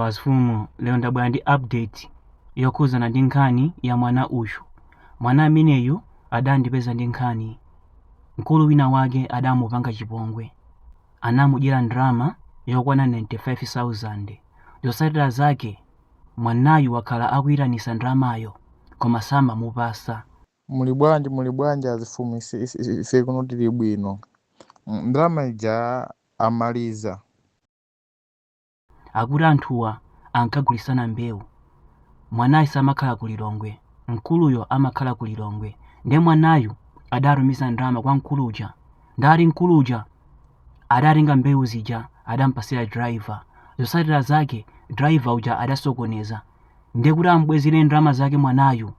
Azifumu lero ndabwera ndi update yokhuzana ndi nkhani ya mwana uyu mwana ameneyu adandipeza ndi nkhani mkulu wina wake adamupanga chipongwe anamudyera ndalama yokwana 95000 zotsatira zake mwanayu wakhala akuyitanisa ndalamayo koma samamupasa Muli bwanji azifumu ise kuno tili bwino. Ndalama ija amaliza. akuti anthuwa ankagulisana mbewu. Mwanayu samakhala ku Lilongwe, mkuluyo amakhala ku Lilongwe. Nde mwanayu adatumiza ndalama kwa mkulu uja. Ndati mkulu uja adatenga mbewu zija adampasira driver. Zosatira zake driver uja adasokoneza. Nde kuti amubwezere ndalama zake mwanayu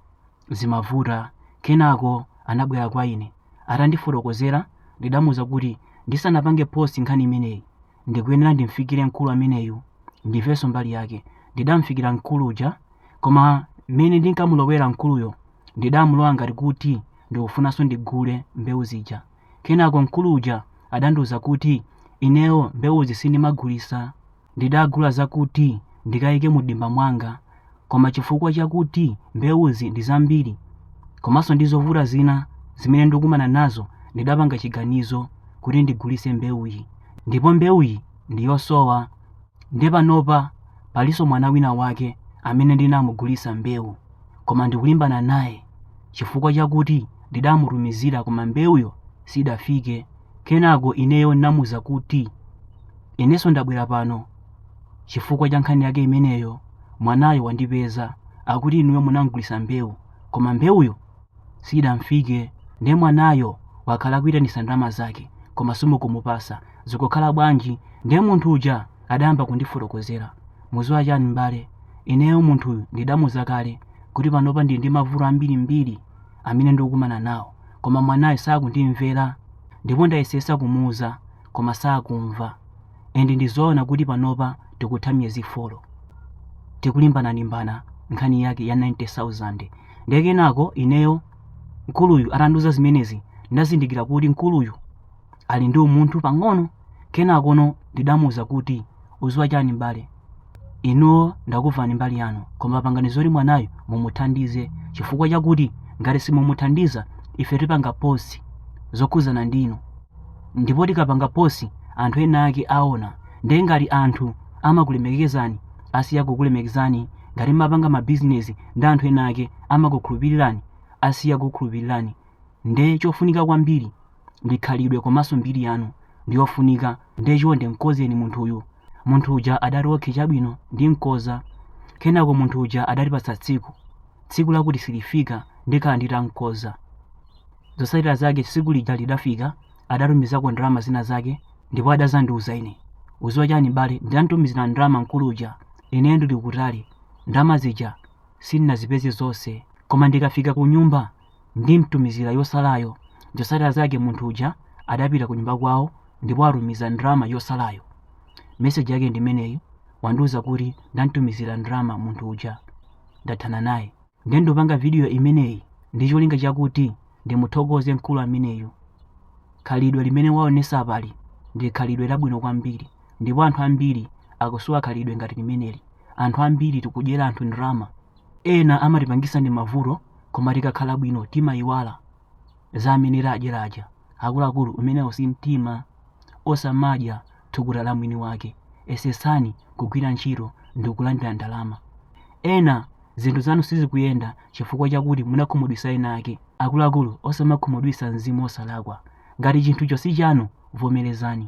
zimavuta. Kenako anabwera kwa ine. Atandifotokozera ndidamuuza kuti ndisanapange post nkhani imeneyi Ndikuyenera ndimfikire mkulu ameneyu, ndimvenso mbali yake. Ndidamfikira mkulu uja, koma mmene ndinkamulowera mkuluyo, ndidamulowa ngati kuti ndikufunanso ndigule mbewu zija. Kenako mkulu uja adandiuza kuti ineyo mbewuzi sindimagulisa, ndidagula zakuti ndikaike mu dimba mwanga. koma chifukwa chakuti mbewuzi ndi zambiri komanso ndi zovuta zina zimene ndikukumana nazo ndidapanga chiganizo kuti ndigulise mbewuyi ndipo mbewuyi ndi yosowa nde panopa palinso mwana wina wake amene ndinamugulisa mbewu koma ndikulimbana naye chifukwa chakuti ndidamutumizira koma mbewuyo sidafike kenako ineyo namuuza kuti inenso ndabwera pano Chifukwa cha nkhani yake imeneyo, mwanayo wandipeza. Akuti inuyo munam'gulisa mbewu, koma mbewuyo siyidam'fike. Nde mwanayo wakhala akuitanisa ndalama zake, koma simukumupasa. Zikukhala bwanji? Nde munthu uja adayamba kundifotokozera. Muziwa chani m'bale? Ineyo munthuyu ndidamuuza kale kuti panopa ndili ndi mavuto ambirimbiri amene ndikukumana nawo, koma mwanayo sakundimvera. Ndipo ndayesesa kumuuza. koma sakumva and ndizoona kuti panopa tikutha miyezi 4 tikulimbanalimbana nkhani yake ya 90000 ndiye kenako ineyo mkuluyu atandiuza zimenezi ndidazindikira kuti mkuluyu ali ndi umunthu pang'ono kenakono ndidamuuza kuti uziwa chani m'bale Inuo ndakumvani mbali yanu koma pangani zoti mwanayu mumuthandize chifukwa chakuti ngati simumuthandiza ife tipanga post zokhuzana ndinu ndipo tikapanga post anthu ena ake aona nde ngati anthu amakulemekezani asiya kukulemekezani ngati mumapanga mabizinesi ndi anthu ena ake amakukhulupirirani asiya kukukhulupirirani nde chofunika kwambiri ndi khalidwe komanso mbiri yanu ndiyofunika ndiye chonde mkozeni munthu uyu munthu uja adati okhe chabwino ndimkoza kenako munthu uja adatipatsa tsiku tsiku lakuti silifika ndikhala nditamkoza zotsatira zake tsiku lija lidafika adatumizako ndalama zina zake ndipo adazandiuza ine udziwa chani mbale ndamtumizira ndalama mkulu uja ine ndili kutali ndalama zija sindinazipeze zonse koma ndikafika ku nyumba ndimtumizira yotsalayo. Zotsatira zake munthu uja adapita kunyumba kwawo ndipo atumiza ndalama yotsalayo. Meseji yake ndi imeneyi, wandiuza kuti ndamtumizira ndalama munthu uja, ndathana naye. Ndiye ndikupanga vidiyo imeneyi ndi cholinga chakuti ndimuthokoze mkulu ameneyu. Khalidwe limene waonesa apali ndi khalidwe labwino kwambiri ndipo anthu ambiri akusowa khalidwe ngati limeneli. Anthu ambiri tikudyera anthu ndalama Ena amatipangisa ndi mavuto koma tikakhala bwino timayiwala za amene tawadyera aja akuluakulu umenewo si mtima osamadya thukuta la mwini wake yesetsani kugwira ntchito ndikulandira ndalama ena zinthu zanu sizikuyenda chifukwa chakuti munakhumudwisa ena ake akuluakulu osamakhumudwisa mzimu osalakwa ngati chinthucho si chanu vomerezani